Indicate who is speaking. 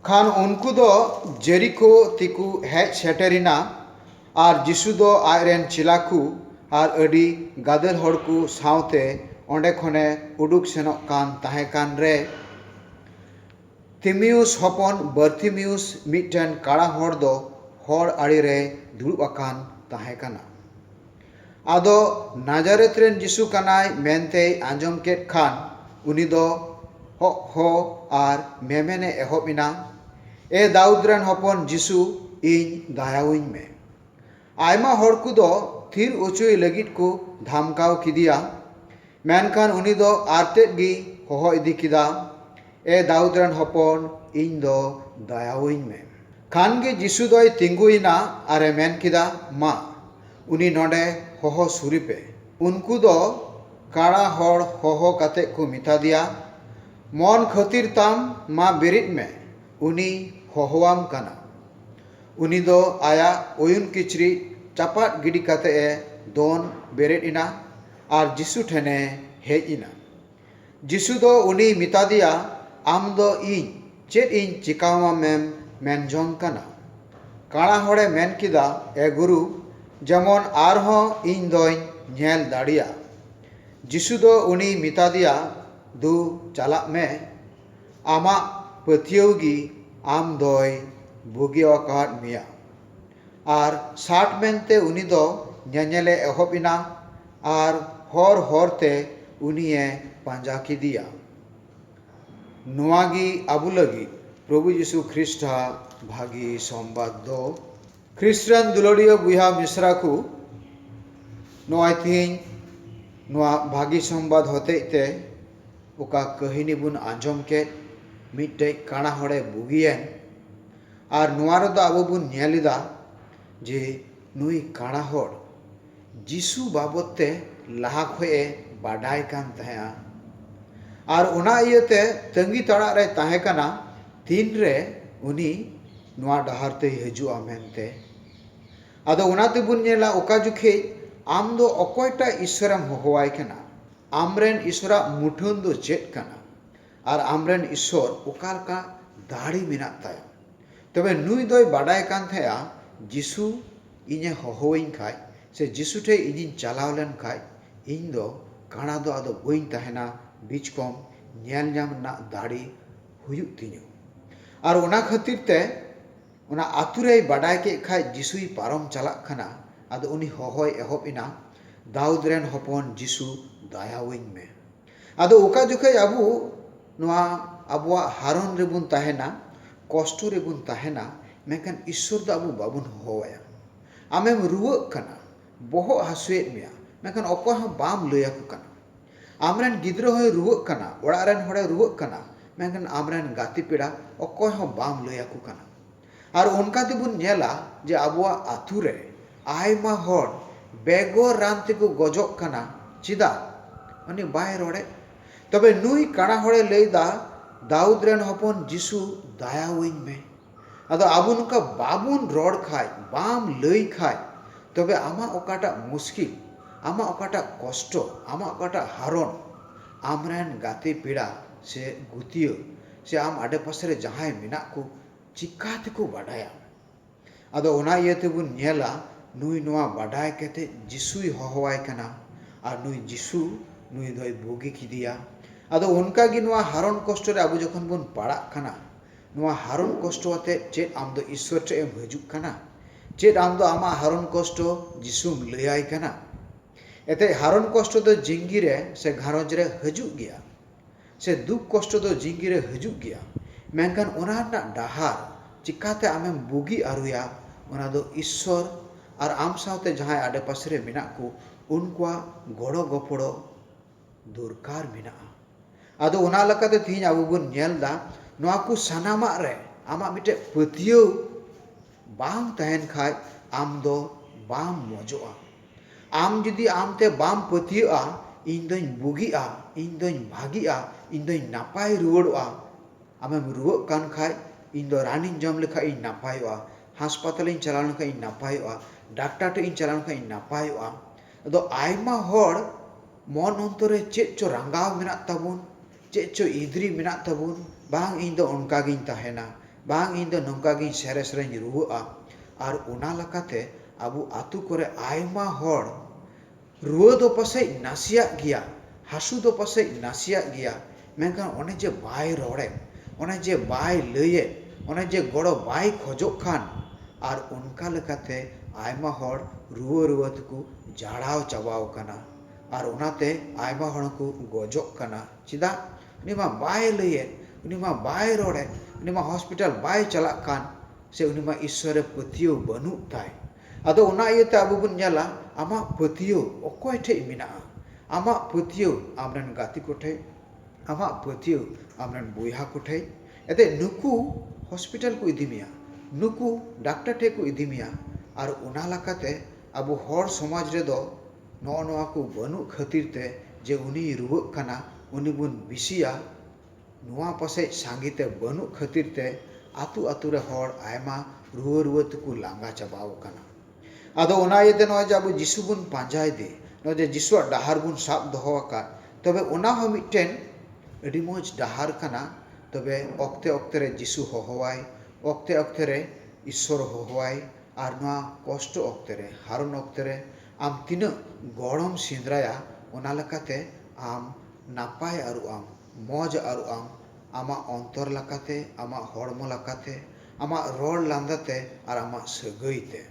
Speaker 1: ᱠᱷᱟᱱ ᱩᱱᱠᱩ ᱫᱚ ᱡᱮᱨᱤᱠᱳ ᱛᱮᱠᱚ ᱦᱮᱡ ᱥᱮᱴᱮᱨ ᱮᱱᱟ ᱟᱨ ᱡᱤᱥᱩ ᱫᱚ ᱟᱡ ᱨᱮᱱ ᱪᱮᱞᱟ ᱠᱚ ᱟᱨ ᱟᱹᱰᱤ ᱜᱟᱫᱮᱞ ᱦᱚᱲ ᱠᱚ ᱥᱟᱶᱛᱮ ᱚᱸᱰᱮ ᱠᱷᱚᱱ ᱮ ᱩᱰᱩᱠ ᱥᱮᱱᱚᱜ ᱠᱟᱱ ᱛᱟᱦᱮᱸ ᱠᱟᱱ ᱨᱮ, ᱛᱤᱢᱮᱣᱩᱥ ᱦᱚᱯᱚᱱ ᱵᱟᱨᱛᱤᱢᱮᱣᱩᱥ ᱢᱤᱫᱴᱟᱹᱝ ᱠᱟᱬᱟ ᱦᱚᱲ ᱫᱚ ᱦᱚᱨ ᱟᱲᱮ ᱨᱮᱭ ᱫᱩᱲᱩᱵ ᱟᱠᱟᱱ ᱛᱟᱦᱮᱸ ᱠᱟᱱᱟ᱾ ᱟᱫᱚ ᱱᱟᱡᱟᱨᱮᱛ ᱨᱮᱱ ᱡᱤᱥᱩ ᱠᱟᱱᱟᱭ ᱢᱮᱱᱛᱮᱭ ᱟᱸᱡᱚᱢ ᱠᱮᱫ ᱠᱷᱟᱱ ᱩᱱᱤ ᱫᱚ ᱦᱚᱜ ᱦᱚ ᱟᱨ ᱢᱮᱢᱮᱱ ᱮ ᱮᱦᱚᱵ ᱮᱱᱟ, ᱮ ᱫᱟᱣᱩᱫᱽ ᱨᱮᱱ ᱦᱚᱯᱚᱱ ᱡᱤᱥᱩ, ᱤᱧ ᱫᱟᱭᱟᱣᱟᱹᱧ ᱢᱮ᱾ ᱟᱭᱢᱟ ᱦᱚᱲ ᱠᱚᱫᱚ ᱛᱷᱤᱨ ᱚᱪᱚᱭᱮ ᱞᱟᱹᱜᱤᱫ ᱠᱚ ᱫᱷᱟᱢᱠᱟᱣ ᱠᱮᱫᱮᱭᱟ᱾ ᱢᱮᱱᱠᱷᱟᱱ ᱩᱱᱤ ᱫᱚ ᱟᱨᱛᱮᱫ ᱜᱮᱭ ᱦᱚᱦᱚ ᱤᱫᱤ ᱠᱮᱫᱟ, ᱮ ᱫᱟᱣᱩᱫᱽ ᱨᱮᱱ ᱦᱚᱯᱚᱱ, ᱤᱧ ᱫᱚ ᱫᱟᱭᱟᱣᱟᱹᱧ ᱢᱮ᱾ ᱠᱷᱟᱱ ᱜᱮ ᱡᱤᱥᱩ ᱫᱚᱭ ᱛᱤᱸᱜᱩ ᱮᱱᱟ ᱟᱨ ᱮ ᱢᱮᱱ ᱠᱮᱫᱟ, ᱢᱟ, ᱩᱱᱤ ᱱᱚᱸᱰᱮ ᱦᱚᱦᱚ ᱥᱩᱨᱮ ᱯᱮ᱾ ᱩᱱᱠᱩ ᱫᱚ ᱠᱟᱬᱟ ᱦᱚᱲ ᱦᱚᱦᱚ ᱠᱟᱛᱮ ᱠᱚ ᱢᱮᱛᱟᱫᱮᱭᱟ, ᱢᱚᱱ ᱠᱷᱟᱹᱛᱤᱨ ᱛᱟᱢ, ᱢᱟ ᱵᱮᱨᱮᱫ ᱢᱮ, ᱩᱱᱤᱭ ᱦᱚᱦᱚᱣᱟᱢ ᱠᱟᱱᱟ᱾ ᱩᱱᱤ ᱫᱚ ᱟᱭᱟᱜ ᱚᱭᱩᱱ ᱠᱤᱪᱨᱤᱡ ᱪᱟᱯᱟᱫ ᱜᱤᱰᱤ ᱠᱟᱛᱮ ᱮ ᱫᱚᱱ ᱵᱮᱨᱮᱫ ᱮᱱᱟ᱾ ᱟᱨ ᱡᱤᱥᱩ ᱴᱷᱮᱱ ᱮ ᱦᱮᱡ ᱮᱱᱟ᱾ ᱡᱤᱥᱩ ᱫᱚ ᱩᱱᱤᱭ ᱢᱮᱛᱟᱫᱮᱭᱟ, ᱟᱢ ᱫᱚ ᱤᱧ ᱪᱮᱫ ᱤᱧ ᱪᱮᱠᱟᱣᱟᱢᱮᱢ ᱢᱮᱱ ᱡᱚᱝ ᱠᱟᱱᱟ? ᱠᱟᱬᱟ ᱦᱚᱲ ᱮ ᱢᱮᱱ ᱠᱮᱫᱟ, ᱮ ᱜᱩᱨᱩ, ᱡᱮᱢᱚᱱ ᱟᱨ ᱦᱚᱸ ᱤᱧ ᱫᱚᱧ ᱧᱮᱞ ᱫᱟᱲᱮᱭᱟᱜ᱾ ᱡᱤᱥᱩ ᱫᱚ ᱩᱱᱤᱭ ᱢᱮᱛᱟᱫᱮᱭᱟ, ᱫᱩ ᱪᱟᱞᱟᱜ ᱢᱮ᱾ ᱟᱢᱟᱜ ᱯᱟᱹᱛᱭᱟᱹᱣ ᱜᱮ ᱟᱢ ᱫᱚᱭ ᱵᱩᱜᱤ ᱟᱠᱟᱫ ᱢᱮᱭᱟ᱾ ᱟᱨ ᱥᱟᱴ ᱢᱮᱱᱛᱮ ᱩᱱᱤ ᱫᱚ ᱧᱮᱧᱮᱞᱮ ᱮᱦᱚᱵ ᱮᱱᱟ ᱟᱨ ᱦᱚᱨ ᱦᱚᱨ ᱛᱮ ᱩᱱᱤᱭᱮ ᱯᱟᱸᱡᱟ ᱠᱮᱫᱮᱭᱟ᱾ ᱱᱚᱶᱟ ᱜᱮ ᱟᱵᱚ ᱞᱟᱹᱜᱤᱫ ᱯᱨᱚᱵᱷᱩ ᱡᱤᱥᱩ ᱠᱷᱨᱤᱥᱴ ᱟᱜ ᱵᱷᱟᱹᱜᱤ ᱥᱚᱢᱵᱟᱫᱽ ᱫᱚ᱾ ᱠᱷᱨᱤᱥᱴ ᱨᱮᱱ ᱫᱩᱞᱟᱹᱲᱤᱭᱟᱹ ᱵᱚᱭᱦᱟ ᱢᱤᱥᱨᱟ ᱠᱚ, ᱱᱚᱜᱼᱚᱭ ᱛᱮᱦᱮᱧ ᱱᱚᱶᱟ ᱵᱷᱟᱹᱜᱤ ᱥᱚᱢᱵᱟᱫᱽ ᱦᱚᱛᱮᱡ ᱛᱮ ᱚᱠᱟ ᱠᱟᱹᱦᱤᱱᱤ ᱵᱚᱱ ᱟᱸᱡᱚᱢ ᱠᱮᱫ, ᱢᱤᱫᱴᱮᱡ ᱠᱟᱬᱟ ᱦᱚᱲᱮ ᱵᱩᱜᱤ ᱮᱱ᱾ ᱟᱨ ᱱᱚᱣᱟ ᱨᱮᱫᱚ ᱟᱵᱚ ᱵᱚᱱ ᱧᱮᱞ ᱮᱫᱟ ᱡᱮ ᱱᱩᱭ ᱠᱟᱬᱟ ᱦᱚᱲ ᱡᱤᱥᱩ ᱵᱟᱵᱚᱛ ᱛᱮ ᱞᱟᱦᱟ ᱠᱷᱚᱱ ᱮ ᱵᱟᱰᱟᱭ ᱠᱟᱱ ᱛᱟᱦᱮᱸᱫᱼᱟ ᱟᱨ ᱚᱱᱟ ᱤᱭᱟᱹᱛᱮ ᱛᱟᱺᱜᱤ ᱛᱟᱲᱟᱜ ᱨᱮᱭ ᱛᱟᱦᱮᱸ ᱠᱟᱱᱟ ᱛᱤᱱ ᱨᱮ ᱩᱱᱤ ᱱᱚᱣᱟ ᱰᱟᱦᱟᱨ ᱛᱮᱭ ᱦᱤᱡᱩᱜᱼᱟ ᱢᱮᱱᱛᱮ ᱟᱫᱚ ᱚᱱᱟ ᱛᱮᱵᱚᱱ ᱧᱮᱞᱟ ᱚᱠᱟ ᱡᱚᱠᱷᱮᱡ ᱟᱢ ᱫᱚ ᱚᱠᱚᱭᱴᱟᱜ ᱤᱥᱥᱚᱨᱮᱢ ᱦᱚᱦᱚᱣᱟᱭ ᱠᱟᱱᱟ ᱟᱢ ᱨᱮᱱ ᱤᱥᱥᱚᱨᱟᱜ ᱢᱩᱴᱷᱟᱹᱱ ᱫᱚ ᱪᱮᱫ ᱠᱟᱱᱟ ᱟᱨ ᱟᱢᱨᱮᱱ ᱤᱥᱥᱚᱨ ᱚᱠᱟ ᱞᱮᱠᱟ ᱫᱟᱲᱮ ᱢᱮᱱᱟᱜ ᱛᱟᱭᱟ᱾ ᱛᱚᱵᱮ ᱱᱩᱭ ᱫᱚᱭ ᱵᱟᱰᱟᱭ ᱠᱟᱱ ᱛᱟᱦᱮᱸᱫᱼᱟ ᱡᱤᱥᱩ ᱤᱧᱮ ᱦᱚᱦᱚᱣᱟᱹᱧ ᱠᱷᱟᱡ ᱥᱮ ᱡᱤᱥᱩ ᱴᱷᱮᱡ ᱤᱧᱤᱧ ᱪᱟᱞᱟᱣ ᱞᱮᱱ ᱠᱷᱟᱡ ᱤᱧ ᱫᱚ ᱠᱟᱬᱟ ᱫᱚ ᱟᱫᱚ ᱵᱟᱹᱧ ᱛᱟᱦᱮᱸᱱᱟ ᱵᱤᱡ ᱠᱚᱢ ᱧᱮᱞ ᱧᱟᱢ ᱨᱮᱱᱟᱜ ᱫᱟᱲᱮ ᱦᱩᱭᱩᱜ ᱛᱤᱧᱟᱹ᱾ ᱟᱨ ᱚᱱᱟ ᱠᱷᱟᱹᱛᱤᱨ ᱛᱮ ᱚᱱᱟ ᱟᱹᱛᱩ ᱨᱮᱭ ᱵᱟᱰᱟᱭ ᱠᱮᱫ ᱠᱷᱟᱡ ᱡᱤᱥᱩᱭ ᱯᱟᱨᱚᱢ ᱪᱟᱞᱟᱜ ᱠᱟᱱᱟ ᱟᱫᱚ ᱩᱱᱤ ᱦᱚᱦᱚᱭ ᱮᱦᱚᱵ ᱮᱱᱟ ᱫᱟᱣᱩᱫᱽ ᱨᱮᱱ ᱦᱚᱯᱚᱱ ᱡᱤᱥᱩ ᱫᱟᱭᱟᱣᱟᱹᱧ ᱢᱮ᱾ ᱟᱫᱚ ᱚᱠᱟ ᱡᱚᱠᱷᱮᱡ ᱟᱵᱚ ᱱᱚᱣᱟ ᱟᱵᱚᱣᱟᱜ ᱦᱟᱨᱚᱱ ᱨᱮᱵᱚᱱ ᱛᱟᱦᱮᱱᱟ, ᱠᱚᱥᱴᱚ ᱨᱮᱵᱚᱱ ᱛᱟᱦᱮᱱᱟ, ᱢᱮᱱᱠᱷᱟᱱ ᱤᱥᱥᱚᱨ ᱫᱚ ᱟᱵᱚ ᱵᱟᱵᱚᱱ ᱦᱚᱦᱚ ᱟᱭᱟ᱾ ᱟᱢᱮᱢ ᱨᱩᱣᱟᱹᱜ ᱠᱟᱱᱟ, ᱵᱚᱦᱚᱜ ᱦᱟᱹᱥᱩᱭᱮᱫ ᱢᱮᱭᱟ, ᱢᱮᱱᱠᱷᱟᱱ ᱚᱠᱚᱭ ᱦᱚᱸ ᱵᱟᱢ ᱞᱟᱹᱭ ᱟᱠᱚ ᱠᱟᱱᱟ᱾ ᱟᱢ ᱨᱮᱱ ᱜᱤᱫᱽᱨᱟᱹ ᱦᱚᱸᱭ ᱨᱩᱣᱟᱹᱜ ᱠᱟᱱᱟ, ᱚᱲᱟᱜ ᱨᱮᱱ ᱦᱚᱲᱮ ᱨᱩᱣᱟᱹᱜ ᱠᱟᱱᱟ, ᱢᱮᱱᱠᱷᱟᱱ ᱟᱢ ᱨᱮᱱ ᱜᱟᱛᱮ ᱯᱮᱲᱟ ᱚᱠᱚᱭ ᱦᱚᱸ ᱵᱟᱢ ᱞᱟᱹᱭ ᱟᱠᱚ ᱠᱟᱱᱟ᱾ ᱟᱨ ᱚᱱᱠᱟ ᱜᱮᱵᱚᱱ ᱧᱮᱞᱟ ᱡᱮ ᱟᱵᱚᱣᱟᱜ ᱟᱹᱛᱩ ᱨᱮ ᱟᱭᱢᱟ ᱦᱚᱲ ᱵᱮᱜᱚᱨ ᱨᱟᱱ ᱛᱮᱠᱚ ᱜᱚᱡᱚᱜ ᱠᱟᱱᱟ ᱪᱮᱫᱟᱜ? ᱩᱱᱤ ᱵᱟᱭ ᱨᱚᱲᱮᱫ᱾ ᱛᱚᱵᱮ ᱱᱩᱭ ᱠᱟᱬᱟ ᱦᱚᱲᱮ ᱞᱟᱹᱭ ᱮᱫᱟ ᱫᱟᱣᱩᱫᱽ ᱨᱮᱱ ᱦᱚᱯᱚᱱ ᱡᱤᱥᱩ ᱫᱟᱭᱟᱣᱟᱹᱧ ᱢᱮ᱾ ᱟᱫᱚ ᱟᱵᱚ ᱱᱚᱝᱠᱟ ᱵᱟᱵᱚᱱ ᱨᱚᱲ ᱠᱷᱟᱡ, ᱵᱟᱢ ᱞᱟᱹᱭ ᱠᱷᱟᱡ ᱛᱚᱵᱮ ᱟᱢᱟᱜ ᱚᱠᱟᱴᱟᱜ ᱢᱩᱥᱠᱤᱞ, ᱟᱢᱟᱜ ᱚᱠᱟᱴᱟᱜ ᱠᱚᱥᱴᱚ, ᱟᱢᱟᱜ ᱚᱠᱟᱴᱟᱜ ᱦᱟᱨᱚᱱ ᱟᱢ ᱨᱮᱱ ᱜᱟᱛᱮ ᱯᱮᱲᱟ ᱥᱮ ᱜᱩᱛᱤᱭᱟᱹ ᱥᱮ ᱟᱢ ᱟᱰᱮᱯᱟᱥᱮ ᱨᱮ ᱡᱟᱦᱟᱸᱭ ᱢᱮᱱᱟᱜ ᱠᱚ ᱪᱤᱠᱟᱹ ᱛᱮᱠᱚ ᱵᱟᱰᱟᱭᱟ? ᱟᱫᱚ ᱚᱱᱟ ᱤᱭᱟᱹ ᱛᱮᱵᱚᱱ ᱧᱮᱞᱟ ᱱᱩᱭ ᱱᱚᱣᱟ ᱵᱟᱰᱟᱭ ᱠᱟᱛᱮ ᱡᱤᱥᱩᱭ ᱦᱚᱦᱚᱣᱟᱭ ᱠᱟᱱᱟ ᱟᱨ ᱱᱩᱭ ᱡᱤᱥᱩ ᱱᱩᱭ ᱫᱚᱭ ᱵᱩᱜᱤ ᱠᱮᱫᱮᱭᱟ᱾ ᱟᱫᱚ ᱚᱱᱠᱟ ᱜᱮ ᱱᱚᱣᱟ ᱦᱟᱨᱚᱱ ᱠᱚᱥᱴᱚ ᱨᱮ ᱟᱵᱚ ᱡᱚᱠᱷᱚᱱ ᱵᱚᱱ ᱯᱟᱲᱟᱜ ᱠᱟᱱᱟ, ᱱᱚᱣᱟ ᱦᱟᱨᱚᱱ ᱠᱚᱥᱴᱚ ᱟᱛᱮ ᱪᱮᱫ ᱟᱢ ᱫᱚ ᱤᱥᱥᱚᱨ ᱴᱷᱮᱱ ᱮᱢ ᱦᱤᱡᱩᱜ ᱠᱟᱱᱟ? ᱪᱮᱫ ᱟᱢ ᱫᱚ ᱟᱢᱟᱜ ᱦᱟᱨᱚᱱ ᱠᱚᱥᱴᱚ ᱡᱤᱥᱩᱢ ᱞᱟᱹᱭ ᱟᱭ ᱠᱟᱱᱟ? ᱮᱛᱮᱫ ᱦᱟᱨᱚᱱ ᱠᱚᱥᱴᱚ ᱫᱚ ᱡᱤᱝᱜᱤ ᱨᱮ ᱥᱮ ᱜᱷᱟᱨᱚᱸᱡᱽ ᱨᱮ ᱦᱤᱡᱩᱜ ᱜᱮᱭᱟ᱾ ᱥᱮ ᱫᱩᱠ ᱠᱚᱥᱴᱚ ᱫᱚ ᱡᱤᱝᱜᱤ ᱨᱮ ᱦᱟᱹᱡᱩᱜ ᱜᱮᱭᱟ ᱢᱮᱱᱠᱷᱟᱱ ᱚᱱᱟ ᱨᱮᱱᱟᱜ ᱰᱟᱦᱟᱨ ᱪᱮᱠᱟ ᱛᱮ ᱟᱢᱮᱢ ᱵᱩᱜᱤ ᱟᱹᱨᱩᱭᱟ ᱚᱱᱟ ᱫᱚ ᱤᱥᱥᱚᱨ ᱟᱨ ᱟᱢ ᱥᱟᱶᱛᱮ ᱡᱟᱦᱟᱸᱭ ᱟᱰᱮ ᱯᱟᱥᱮ ᱨᱮ ᱢᱮᱱᱟᱜ ᱠᱚ ᱩᱱᱠᱩᱣᱟᱜ ᱜᱚᱲᱚ ᱜᱚᱯᱚᱲᱚ ᱫᱚᱨᱠᱟᱨ ᱢᱮᱱᱟᱜᱼᱟ ᱟᱫᱚ ᱚᱱᱟ ᱞᱮᱠᱟᱛᱮ ᱛᱮᱦᱮᱧ ᱟᱵᱚ ᱵᱚᱱ ᱧᱮᱞ ᱮᱫᱟ ᱱᱚᱣᱟ ᱠᱚ ᱥᱟᱱᱟᱢᱟᱜ ᱨᱮ ᱟᱢᱟᱜ ᱢᱤᱫᱴᱮᱡ ᱯᱟᱹᱛᱭᱟᱹᱣ ᱵᱟᱝ ᱛᱟᱦᱮᱱ ᱠᱷᱟᱡ ᱟᱢ ᱫᱚ ᱵᱟᱢ ᱢᱚᱡᱚᱜᱼᱟ ᱟᱢ ᱡᱩᱫᱤ ᱟᱢ ᱛᱮ ᱵᱟᱢ ᱯᱟᱹᱛᱭᱟᱹᱜᱼᱟ, ᱤᱧ ᱫᱚᱧ ᱵᱩᱜᱤᱜᱼᱟ, ᱤᱧ ᱫᱚᱧ ᱵᱷᱟᱹᱜᱤᱜᱼᱟ, ᱤᱧ ᱫᱚᱧ ᱱᱟᱯᱟᱭ ᱨᱩᱣᱟᱹᱲᱚᱜᱼᱟ, ᱟᱢᱮᱢ ᱨᱩᱣᱟᱹᱜ ᱠᱟᱱ ᱠᱷᱟᱡ ᱤᱧ ᱫᱚ ᱨᱟᱱᱤᱧ ᱡᱚᱢ ᱞᱮᱠᱷᱟᱡ ᱤᱧ ᱱᱟᱯᱟᱭᱚᱜᱼᱟ, ᱦᱟᱥᱯᱟᱛᱟᱞᱤᱧ ᱪᱟᱞᱟᱣ ᱞᱮᱱ ᱠᱷᱟᱡ ᱤᱧ ᱱᱟᱯᱟᱭᱚᱜᱼᱟ, ᱰᱟᱠᱴᱟᱨ ᱴᱷᱮᱡ ᱤᱧ ᱪᱟᱞᱟᱣ ᱞᱮᱱ ᱠᱷᱟᱡ ᱤᱧ ᱱᱟᱯᱟᱭᱚᱜᱼᱟ᱾ ᱟᱫᱚ ᱟᱭᱢᱟ ᱦᱚᱲ ᱢᱚᱱ ᱚᱱᱛᱚᱨ ᱨᱮ ᱪᱮᱫ ᱪᱚ ᱨᱟᱸᱜᱟᱣ ᱢᱮᱱᱟᱜ ᱛᱟᱵᱚᱱ᱾ ᱪᱮᱫ ᱪᱚ ᱤᱫᱽᱨᱤ ᱢᱮᱱᱟᱜ ᱛᱟᱵᱚᱱ ᱵᱟᱝ ᱤᱧ ᱫᱚ ᱚᱱᱠᱟ ᱜᱤᱧ ᱛᱟᱦᱮᱱᱟ ᱵᱟᱝ ᱤᱧ ᱫᱚ ᱱᱚᱝᱠᱟ ᱜᱤᱧ ᱥᱮᱨᱮᱥ ᱨᱮᱧ ᱨᱩᱣᱟᱹᱜᱼᱟ ᱟᱨ ᱚᱱᱟ ᱞᱮᱠᱟᱛᱮ ᱟᱵᱚ ᱟᱹᱛᱩ ᱠᱚᱨᱮ ᱟᱭᱢᱟ ᱦᱚᱲ ᱨᱩᱣᱟᱹ ᱫᱚ ᱯᱟᱥᱮᱡ ᱱᱟᱥᱮᱭᱟᱜ ᱜᱮᱭᱟ ᱦᱟᱹᱥᱩ ᱫᱚ ᱯᱟᱥᱮᱡ ᱱᱟᱥᱮᱭᱟᱜ ᱜᱮᱭᱟ ᱢᱮᱱᱠᱷᱟᱱ ᱚᱱᱮ ᱡᱮ ᱵᱟᱭ ᱨᱚᱲᱮᱫ ᱚᱱᱮ ᱡᱮ ᱵᱟᱭ ᱞᱟᱹᱭᱮᱫ ᱚᱱᱮ ᱡᱮ ᱜᱚᱲᱚ ᱵᱟᱭ ᱠᱷᱚᱡᱚᱜ ᱠᱟᱱ ᱟᱨ ᱚᱱᱠᱟ ᱞᱮᱠᱟᱛᱮ ᱟᱭᱢᱟ ᱦᱚᱲ ᱨᱩᱣᱟᱹ ᱨᱩᱣᱟᱹ ᱛᱮᱠᱚ ᱡᱟᱲᱟᱣ ᱪᱟᱵᱟᱣ ᱠᱟᱱᱟ ᱟᱨ ᱚᱱᱟ ᱛᱮ ᱟᱭᱢᱟ ᱦᱚᱲ ᱦᱚᱸᱠᱚ ᱜᱚᱡᱚᱜ ᱠᱟᱱᱟ ᱪᱮᱫᱟᱜ ᱩᱱᱤ ᱢᱟ ᱵᱟᱭ ᱞᱟᱹᱭᱮᱫ ᱩᱱᱤ ᱢᱟ ᱵᱟᱭ ᱨᱚᱲᱮᱫ ᱩᱱᱤ ᱢᱟ ᱦᱚᱥᱯᱤᱴᱟᱞ ᱵᱟᱭ ᱪᱟᱞᱟᱜ ᱠᱟᱱ ᱥᱮ ᱩᱱᱤ ᱢᱟ ᱤᱥᱥᱚᱨ ᱨᱮ ᱯᱟᱹᱛᱭᱟᱹᱣ ᱵᱟᱹᱱᱩᱜ ᱛᱟᱭ ᱟᱫᱚ ᱚᱱᱟ ᱤᱭᱟᱹ ᱛᱮ ᱟᱵᱚ ᱵᱚᱱ ᱧᱮᱞᱟ ᱟᱢᱟᱜ ᱯᱟᱹᱛᱭᱟᱹᱣ ᱚᱠᱚᱭ ᱴᱷᱮᱱ ᱢᱮᱱᱟᱜᱼᱟ ᱟᱢᱟᱜ ᱯᱟᱹᱛᱭᱟᱹᱣ ᱟᱢ ᱨᱮᱱ ᱜᱟᱛᱮ ᱠᱚ ᱴᱷᱮᱱ ᱟᱢᱟᱜ ᱯᱟᱹᱛᱭᱟᱹᱣ ᱟᱢ ᱨᱮᱱ ᱵᱚᱭᱦᱟ ᱠᱚ ᱴᱷᱮᱱ ᱮᱱᱛᱮᱫ ᱱᱩᱠᱩ ᱦᱚᱥᱯᱤᱴᱟᱞ ᱠᱚ ᱤᱫᱤ ᱢᱮᱭᱟ ᱱᱩᱠᱩ ᱰᱟᱠᱴᱚᱨ ᱴᱷᱮᱱ ᱠᱚ ᱤᱫᱤ ᱢᱮᱭᱟ ᱟᱨ ᱚᱱᱟ ᱞᱮᱠᱟᱛᱮ ᱟᱵᱚ ᱦᱚᱲ ᱥᱚᱢᱟᱡᱽ ᱨᱮᱫᱚ ᱱᱚᱜᱼᱚ ᱱᱚᱣᱟ ᱠᱚ ᱵᱟᱹᱱᱩᱜ ᱠᱷᱟᱹᱛᱤᱨ ᱛᱮ ᱡᱮ ᱩᱱᱤᱭ ᱨᱩᱣᱟᱹᱜ ᱠᱟᱱᱟ ᱩᱱᱤ ᱵᱚᱱ ᱵᱤᱥᱤᱭᱟ ᱱᱚᱣᱟ ᱯᱟᱥᱮᱡ ᱥᱟᱸᱜᱮ ᱛᱮ ᱵᱟᱹᱱᱩᱜ ᱠᱷᱟᱹᱛᱤᱨ ᱛᱮ ᱟᱹᱛᱩ ᱟᱹᱛᱩ ᱨᱮ ᱦᱚᱲ ᱟᱭᱢᱟ ᱨᱩᱣᱟᱹ ᱨᱩᱣᱟᱹ ᱛᱮᱠᱚ ᱞᱟᱸᱜᱟ ᱪᱟᱵᱟ ᱟᱠᱟᱱᱟ ᱟᱫᱚ ᱚᱱᱟ ᱤᱭᱟᱹ ᱛᱮ ᱱᱚᱜᱼᱚᱭ ᱡᱮ ᱟᱵᱚ ᱡᱤᱥᱩ ᱵᱚᱱ ᱯᱟᱸᱡᱟᱭᱮᱫᱮ ᱱᱚᱜᱼᱚᱭ ᱡᱮ ᱡᱤᱥᱩᱣᱟᱜ ᱰᱟᱦᱟᱨ ᱵᱚᱱ ᱥᱟᱵ ᱫᱚᱦᱚ ᱟᱠᱟᱫ ᱛᱚᱵᱮ ᱚᱱᱟ ᱦᱚᱸ ᱢᱤᱫᱴᱮᱱ ᱟᱹᱰᱤ ᱢᱚᱡᱽ ᱰᱟᱦᱟᱨ ᱠᱟᱱᱟ ᱛᱚᱵᱮ ᱚᱠᱛᱮ ᱚᱠᱛᱮ ᱨᱮ ᱡᱤᱥᱩ ᱦᱚᱦᱚᱣᱟᱭ ᱚᱠᱛᱮ ᱚᱠᱛᱮ ᱨᱮ ᱤᱥᱥᱚᱨ ᱦᱚᱦᱚᱣᱟᱭ ᱟᱨ ᱱᱚᱣᱟ ᱠᱚᱥᱴᱚ ᱚᱠᱛᱮ ᱨᱮ ᱦᱟᱨᱚᱱ ᱚᱠᱛᱮ ᱨᱮ ᱟᱢ ᱛᱤᱱᱟᱹᱜ ᱜᱚᱲᱚᱢ ᱥᱮᱸᱫᱽᱨᱟᱭᱟ ᱚᱱᱟ ᱞᱮᱠᱟᱛᱮ ᱟᱢ ᱱᱟᱯᱟᱭ ᱟᱹᱨᱩᱜ ᱟᱢ, ᱢᱚᱡᱽ ᱟᱹᱨᱩᱜ ᱟᱢ, ᱟᱢᱟᱜ ᱚᱱᱛᱚᱨ ᱞᱮᱠᱟᱛᱮ, ᱟᱢᱟᱜ ᱦᱚᱲᱢᱚ ᱞᱮᱠᱟᱛᱮ, ᱟᱢᱟᱜ ᱨᱚᱲ ᱞᱟᱸᱫᱟ ᱛᱮ ᱟᱨ ᱟᱢᱟᱜ ᱥᱟᱹᱜᱟᱹᱭ ᱛᱮ᱾